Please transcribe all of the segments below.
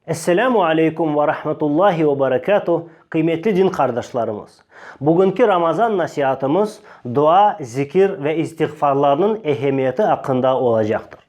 Esselamu aleykum ve rahmetullahi ve berekatuh, qıymetli din qardaşlarımız! Bugünki Ramazan nasiatımız dua, zikir ve istiğfarlarnıñ ehemmiyeti aqqında olacaqtır.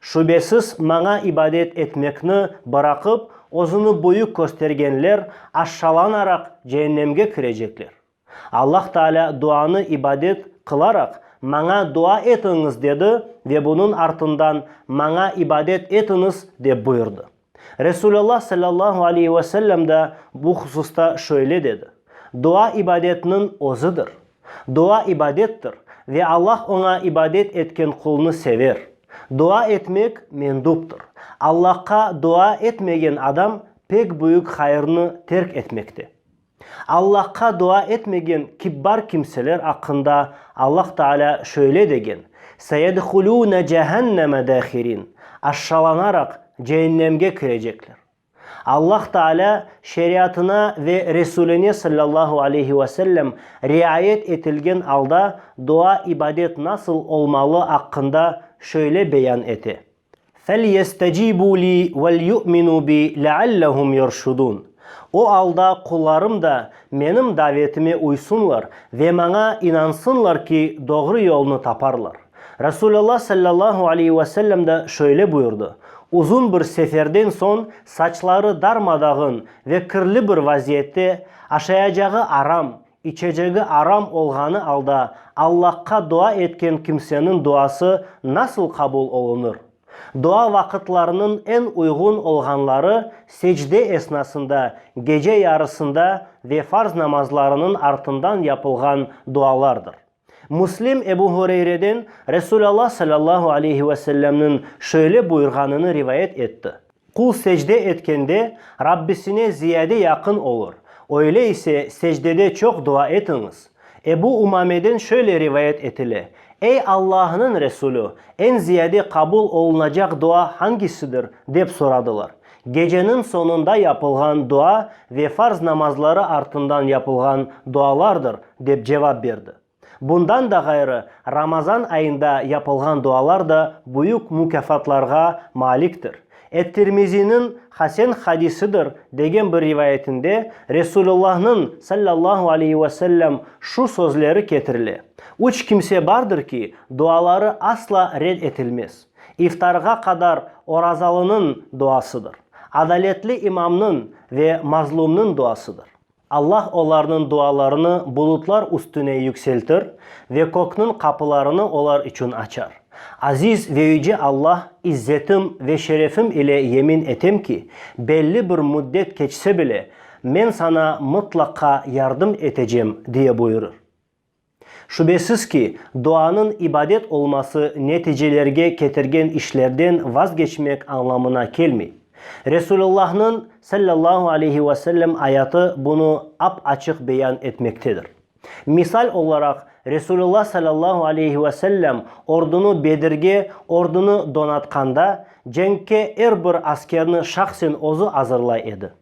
Şübesiz, maña ibadet etmekni bıraqıp, özüni büyük köstergenler aşşalanaraq ceennemge kirecekler. Allah Taalâ duanı ibadet qılaraq, Maña dua etiñiz dedi ve bunıñ artından, Maña ibadet etiñiz dep buyurdı. Resulallah sallallahu aleyhi ve sellem da bu hususta şöyle dedi, Dua ibadetniñ özüdir. Dua ibadettir ve Allah oña ibadet etken qulnı sever. Dua etmek menduptır. Allahqa dua etmegen adam pek büyük hayırnı terk etmekte. Allahqa dua etmegen kibbar kimseler aqqında Allah Taalâ şöyle degen, Seyedhulûne cehenneme dâhirin, Aşşalanaraq ceennemge kirecekler. Allah Taalâ Şeriatına ve Resûline sallallahu aleyhi ve sellem riayet etilgen alda dua-ibadet nasıl olmalı aqqında şöyle beyan ete, Felyestecibû li vel'yu'minû bi leallehum yerşudûn. O alda qullarım da menim davetime uysınlar ve maña inansınlar ki, doğru yolnı taparlar. Resulallah sallallahu aleyhi ve sellem de şöyle buyurdı, Uzun bir seferden soñ saçları darmadağın ve kirli bir vaziyette, aşayacağı aram, İçecegi aram olğanı alda Allahqa dua etken kimseniñ duası nasıl qabul olunır? Dua vaqıtlarınıñ eñ uyğun olğanları secde esnasında, gece yarısında ve farz namazlarınıñ artından yapılğan dualardır. Müslim Ebu Hureyreden Resul Alla sallallahu aleyhi ve sellemniñ şöyle buyurğanını rivayet etti, Qul secde etkende Rabbisine ziyade yaqın olur, öyle ise secdede çoq dua etiñiz. Ebu Umameden şöyle rivayet etile, Ey Allahnıñ Resulü, eñ ziyade qabul olunacaq dua hangisidir? dep soradılar. Geceniñ soñunda yapılğan dua ve farz namazları artından yapılğan dualardır, dep cevap berdi. Bundan da ğayrı, Ramazan ayında yapılğan dualar da büyük mukâfatlarğa maliktir. Et-Tirmiziniñ hasen hadisidir degen bir rivayetinde Resulullahnıñ, sallallahu aleyhi ve sellem, şu sözleri ketirile, Üç kimse bardır ki, duaları asla red etilmez. İftarğa qadar orazalınıñ duasıdır, adaletli imamnıñ ve mazlumnıñ duasıdır. Allah olarnıñ dualarını bulutlar üstüne yükseltir ve kökniñ qapılarını olar içün açar. Aziz ve Yüce Allah, izzetim ve şerefim ile yemin etem ki, belli bir müddet keçse bile, men saña mıtlaqqa yardım etecem, diye buyurır. Şübesiz ki, duanıñ ibadet olması neticelerge ketirgen işlerden vazgeçmek añlamına kelmey. Resulullahnıñ, sallallahu aleyhi ve sellem, ayatı bunı ap-açıq beyan etmektedir. Misal olaraq, Resulullah, sallallahu aleyhi ve sellem, ordunı Bedirge ordunı donatqanda, cenkke er bir askerni şahsen özü azırlay edi.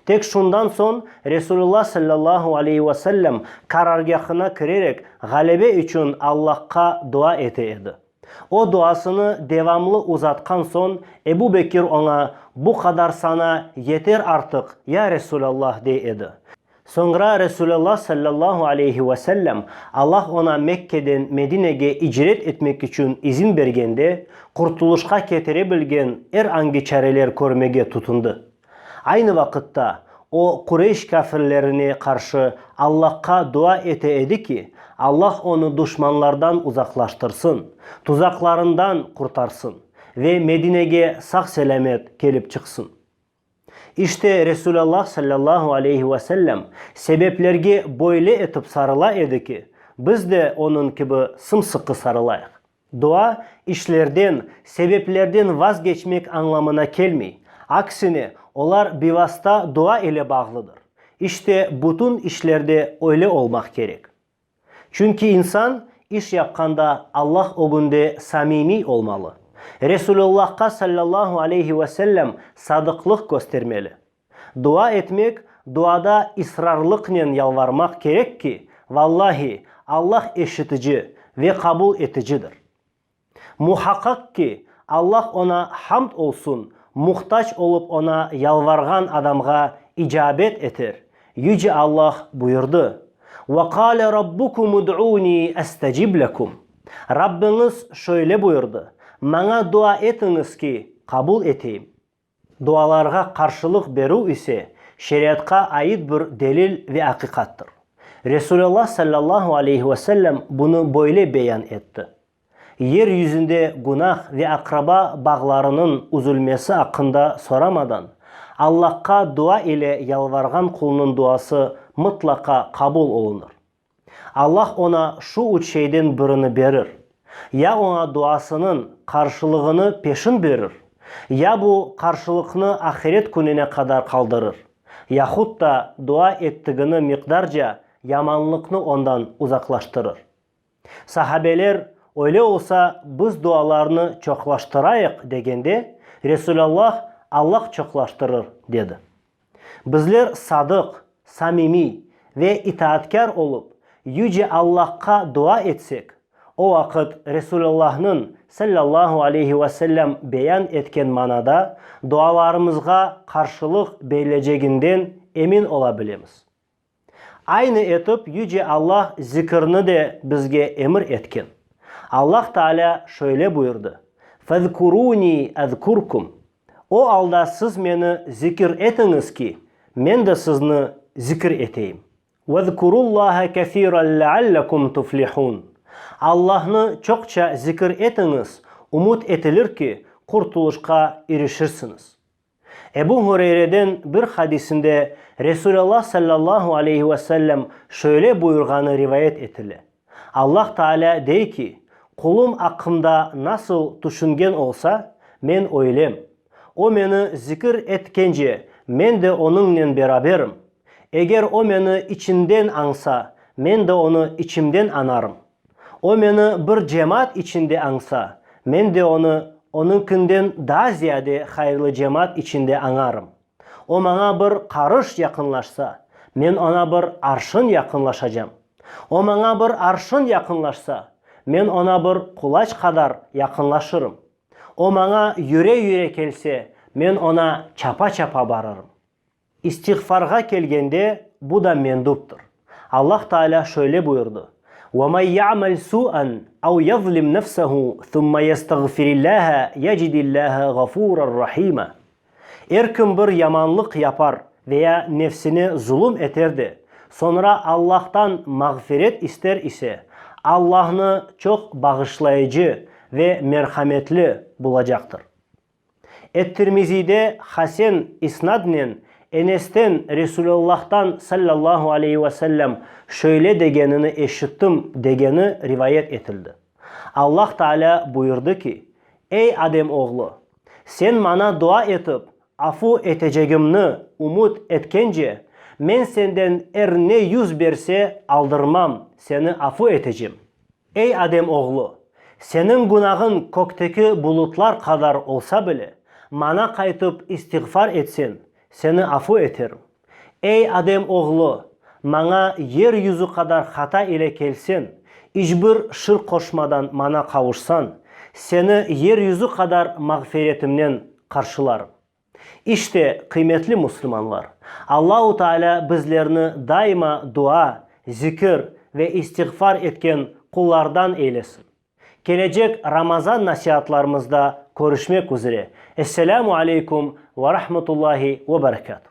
Tek şundan soñ Resulullah sallallahu aleyhi ve sellem qarargâhına kirerek ğalebe içün Allahqa dua ete edi. O duasını devamlı uzatqan soñ Ebu Bekir oña, Bu qadar saña yeter artıq, ya Resulallah, dey edi. Soñra Resulullah sallallahu aleyhi ve sellem Allah oña Mekkeden Medinege icret etmek içün izin bergende, qurtulışqa ketire bilgen er angi çareler körmege tutundı. Aynı vaqıtta, o, Qureyş kâfirlerine qarşı Allahqa dua ete edi ki, Allah onı duşmanlardan uzaqlaştırsın, tuzaqlarından qurtarsın ve Medinege sağ-selâmet kelip çıqsın. İşte, Resûlallah sallallahu aleyhi ve sellem sebeplerge böyle etip sarıla edi ki, biz de onıñ kibi sımsıqı sarılayıq. Dua, işlerden, sebeplerden vazgeçmek añlamına kelmey. Aksine, olar bivasta dua ile bağlıdır. İşte, bütün işlerde öyle olmaq kerek. Çünki insan, iş yapqanda Allah ögünde samimiy olmalı. Resulullahqa sallallahu aleyhi ve sellem sadıqlıq köstermeli. Dua etmek, duada israrlıqnen yalvarmaq kerek ki, vallahi, Allah eşitici ve qabul eticidir. Muhaqqaq ki, Allah Oña hamd olsun, muhtac olıp Oña yalvarğan adamğa icabet eter, Yüce Allah buyurdı, Ve qâle Rabbukum ud'ûni estecib lekum, Rabbiñiz şöyle buyurdı, Maña dua etiñiz ki, qabul eteyim. Dualarğa qarşılıq berüv ise şeriatqa ait bir delil ve aqiqattır. Resulallah sallallahu aleyhi ve sellem bunı böyle beyan etti, Yer yüzünde günah ve aqraba bağlarınıñ üzülmesi aqqında soramadan, Allahqa dua ile yalvarğan qulnıñ duası mıtlaqa qabul olunır. Allah oña şu üç şeyden birini berir, ya oña duasınıñ qarşılığını peşin berir, ya bu qarşılıqnı ahiret kününe qadar qaldırır, yahut da dua ettigini miqdarca yamanlıqnı ondan uzaqlaştırır. Sahabeler, Öyle olsa, biz dualarnı çoqlaştırayıq, degende, Resulallah, Allah çoqlaştırır, dedi. Bizler sadıq, samimiy ve itaatkâr olıp, Yüce Allahqa dua etsek, o vaqıt Resulullahnıñ, sallallahu aleyhi ve sellem, beyan etken manada dualarımızğa qarşılıq berileceginden emin ola bilemiz. Aynı etip Yüce Allah zikirni de bizge emir etken. Allah Taalâ şöyle buyurdı, Fezkurûnî ezkurkum, O alda siz Meni zikir etiñiz ki, Men de sizni zikir eteyim. Vezkurullâhe kesiran leallekum tuflihûn, Allahnı çoqça zikir etiñiz, umut etilir ki, qurtulışqa irişirsiñiz. Ebu Hureyreden bir hadisinde Resulallah sallallahu aleyhi ve sellem şöyle buyurğanı rivayet etile, Allah Taalâ dey ki, Qulum aqqımda nasıl tüşüngen olsa, men öylem. O meni zikir etkence, men de onıñnen beraberim. Eger o meni içinden añsa, men de onı içimden añarım. O meni bir cemaat içinde añsa, men de onı onıñkinden daa ziyade hayırlı cemaat içinde añarım. O maña bir qarış yaqınlaşsa, men oña bir arşın yaqınlaşacam. O maña bir arşın yaqınlaşsa, men oña bir qulaç qadar yaqınlaşırım. O maña yüre-yüre kelse, men oña çapa-çapa barırım. İstiğfarğa kelgende, bu da menduptır. Allah Taalâ şöyle buyurdı, Ve men ya'mel su'en ev yezlim nefsehu thumma yestağfirillâhe yecidillâhe ğafuran rahîme. Er kim bir yamanlıq yapar veya nefsine zulum eter de, soñra Allahtan mağfiret ister ise, Allahnı çoq bağışlayıcı ve merhametli bulacaqtır. Et-Tirmiziyde hasen isnadnen Enesten, Resülâllâhtan, sallâllahu aleyhi ve sellem, şöyle degenini eşittim, degeni rivayet etildi, Allah Taalâ buyurdı ki, Ey Adem oğlu! Sen Maña dua etip, afu etecegimni ümüt etkence, Men senden er ne yüz berse aldırmam, seni afu etecem. Ey adem oğlu, seniñ günahıñ kökteki bulutlar qadar olsa bile, maña qaytıp istiğfar etseñ, seni afu eterim. Ey adem oğlu, maña yer yüzü qadar hata ile kelseñ, iç bir şirk qoşmadan maña qavuşsañ, seni yer yüzü qadar mağfiretimnen qarşılarım. İşte, qıymetli müslümanlar, Allahu Taalâ bizlerni daima dua, zikir ve istiğfar etken qullardan eylesin. Kelecek Ramazan nasiatlarımızda körüşmek üzere. Esselâmu aleykum ve rahmetullahi ve berekâtu.